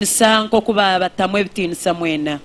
Nibabatiinisa nk'oku baabatamu ebitiinisa mwena.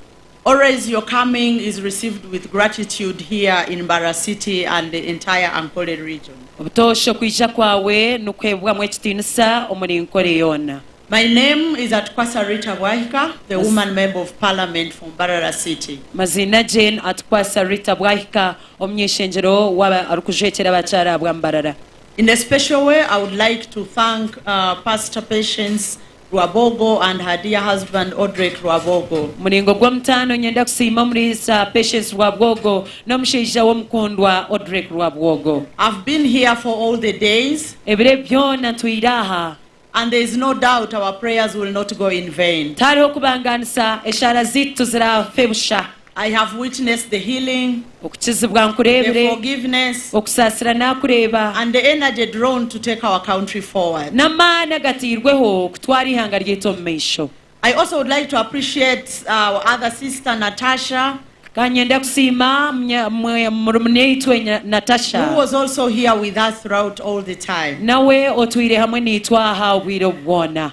Always your coming is received with gratitude here in Mbarara City and the entire Ankole region. Obutoosha okwija kwawe nikuheebwamu ekitiinisa omuri Nkole yoona. My name is Atukwasa Rita Bwahika, the woman member of parliament for Mbarara City. Amaziina gye ni Atukwasa Rita Bwahika, omunyaishengyero waaba arikujwekyera abakyaara ahabwa Mbarara. In a special way I would like to thank Pastor Patience Rwabogo and her dear husband Odrek Rwabogo. Muringo gw'omutaano nyenda kusiima omuriisa Patience Rwabwogo n'omushaija we omukundwa Odrek Rwabwogo. I've been here for all the days. Ebiro ebi byoona ntwiire aha. And there is no doubt our prayers will not go in vain. Tihariho kubangaanisa eshaara zaitu tiziraafe busha. I have witnessed the healing, Okukizibwa the nkureebire, forgiveness, okusaasira naakureeba, and the energy drawn to take our country forward. n'amaani agatairweho kutwara eihanga ryaitu omu maisho. I also would like to appreciate our other sister, Natasha, Ka nyenda kusiima munya- mwe- murumuneitwe Nya- Natasha, who was also here with us throughout all the time. nawe otwire hamwe naitwe aha obwire obu bwona.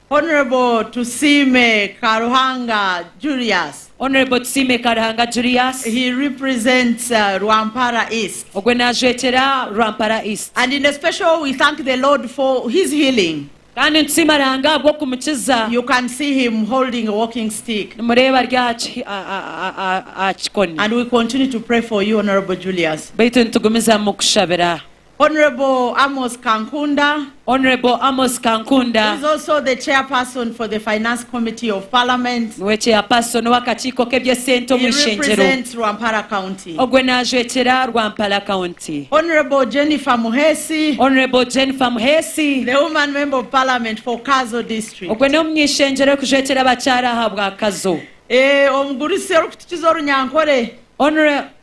Hon Tusiime Karuhanga Julius. Hon Tusiime Karuhanga Julius. He represents Rwampara East. Ogwe naajwekyera Rwampara East. And in a special we thank the Lord for his healing. Kandi nitusiima Ruhanga ahabw'okumukiza. You can see him holding a walking stick. Nimureeba ari aha kikoni. And we continue to pray for you Hon Julius. Beitu nitugumizamu kukushabira. Honourable Amos Kankunda. Honourable Amos Kankunda. Who is also the chairperson for the finance committee of parliament. Niwe chairperson ow'akakiiko k'eby'esente omu ishengyero. He represents Rwampara county. Ogwe naajwekyera Rwampara county. Honourable Jennifer Muheesi. Honourable Jennifer Muheesi. The woman member of parliament for Kazo district. Ogwe n'omuny'ishengyero orikujwekyera abakyaara ahabwa Kazo. Omugurusi orikutukiza orunyankore.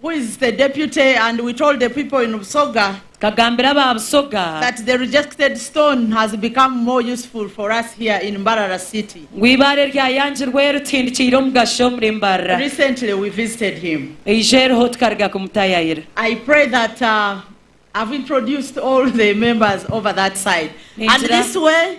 Who is the deputy and we told the people in Busoga. Tukagambira aba Busoga. That the rejected stone has become more useful for us here in Mbarara city. Ngu eibaare ryayangirwe rituhindikiire omugasho omuri Mbarara. Recently we visited him. Eijo eriho tukaruga kumutayayira. I pray that I've introduced all the members over that side and this way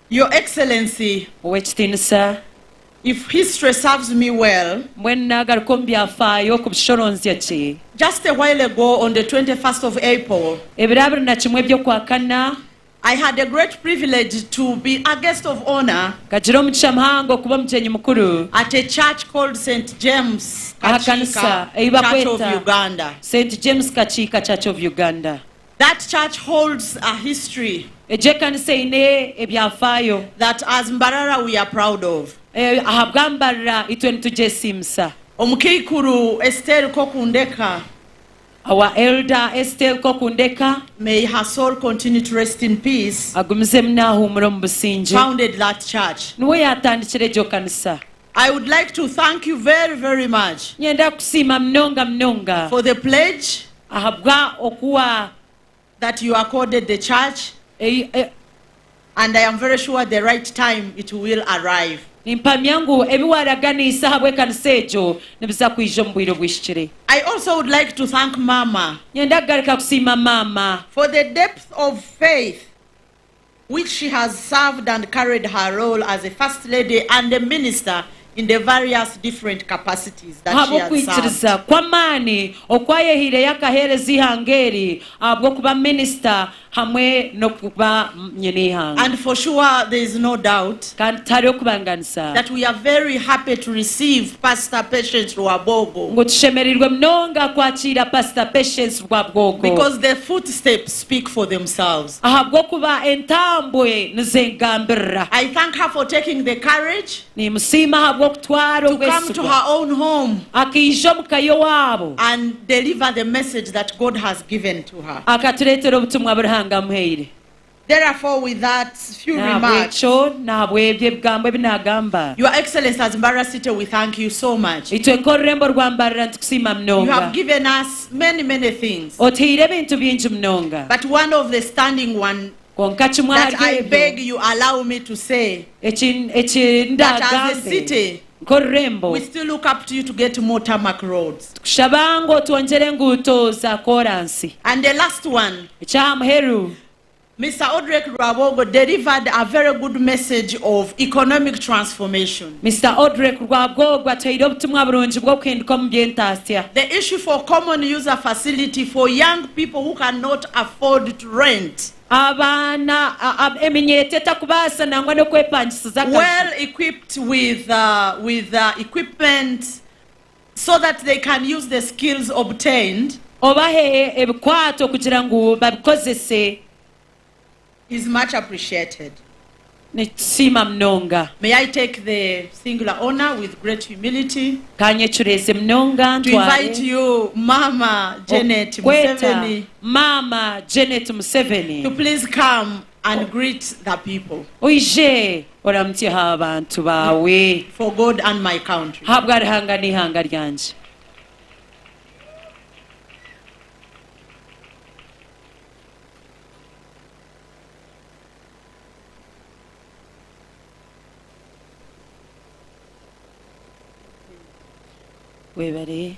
Your Excellency, Ow'ekitiinisa, if history serves me well, mbwenu naagaruka omu byafaayo okubishoronzya gye, just a while ago on the twenty first of April, ebiro abiri na kimwe by'okwakana, I had a great privilege to be a guest of honour nkagira omugisha muhango okuba omugyenyi mukuru at a church called Saint James aha Kakiika kanisa ei Church of bakweta Uganda. Saint James Kakiika Church of Uganda. That church holds a history. Egyo ekanisa eine ebyafaayo. That as Mbarara we are proud of. Ei ahabwa Mbarara itwe nitugyesiimisa. Omukaikuru Esteri Kokundeka. Our Elder Esteri Kokundeka. May her soul continue to rest in peace. Agumizemu naahuumura omu busingye. Founded that church. Niwe yaatandikire egyo kanisa. I would like to thank you very very much. Nyenda kukusiima munonga munonga. For the pledge. Ahabwa oku wa. That you accorded the church. Ei, e. And I am very sure the right time it will arrive. Nimpamya ngu ebi waaraganiise ahabw'ekanisa egyo nibiza kwija omu bwire obwihikire. I also would like to thank maama. Nyenda kugaruka kusiima maama. For the depth of faith. which she has served and carried her role as a First Lady and a Minister in the various different capacities that she has served. Ahabw'okwikiriza kw'amaani oku ayehaireyo akaheereza eihanga eri ahabw'okuba Minisita hamwe n'okuba Nyineihanga. And for sure there is no doubt Kandi tihariho kubanganisa. that we are very happy to receive Pastor Patience Rwabwogo Ngu tushemereirwe munonga kwakiira Pastor Patience Rwabwogo. because the footsteps speak for themselves. Ahabw'okuba entambwe nizengambirira. I thank her for taking the courage. Nimusiima ahabw'okutwara obwesigwa. To come to her own home. Akaija omu ka y'owaabo. And deliver the message that God has given to her. Akatureetera obutumwa bu Ruhanga amuhaire. Therefore with that few remarks. N'ahabw'ekyo, n'ahabw'ebyo ebigambo ebi naagamba. Your Excellency as Mbarara City we thank you so much. Itwe nk'orurembo rwa Mbarara nitukusiima munonga. You have given us Many, many things. Oteire ebintu bingi munonga. But one of the standing one Kwonka kimwe that ahari I ebyo beg you allow me to say eki eki that as a ndaagambe city nk'orurembo, we still look up to you to get more tarmac roads. Tukushaba ngu otwongyere enguuto za kooransi. And the last one, Eky'aha muheru. Mister Odrek Rwabogo delivered a very good message of economic transformation. Mister Odrek Rwagogo ataire obutumwa burungi bw'okuhinduka omu by'entaasya. The issue for common user facility for young people who can not afford to rent. Abaana, eminyeeto etakubaasa nangwa n'okwepangisiza akaju. Well equipped with with equipment so that they can use the skills obtained. Obahe ebikwaato kugira ngu babikozese. Is much appreciated. Nikisiima munonga. May I take the singular honour with great humility. Ka nyecureeze munonga ntware. To invite you Maama Janet Museveni. Okukweta Maama Janet Museveni. To please come and greet the people. Oije Oramukye ha bantu baawe. For God and my country. Habwa Ruhanga n'eihanga ryangye. Webare.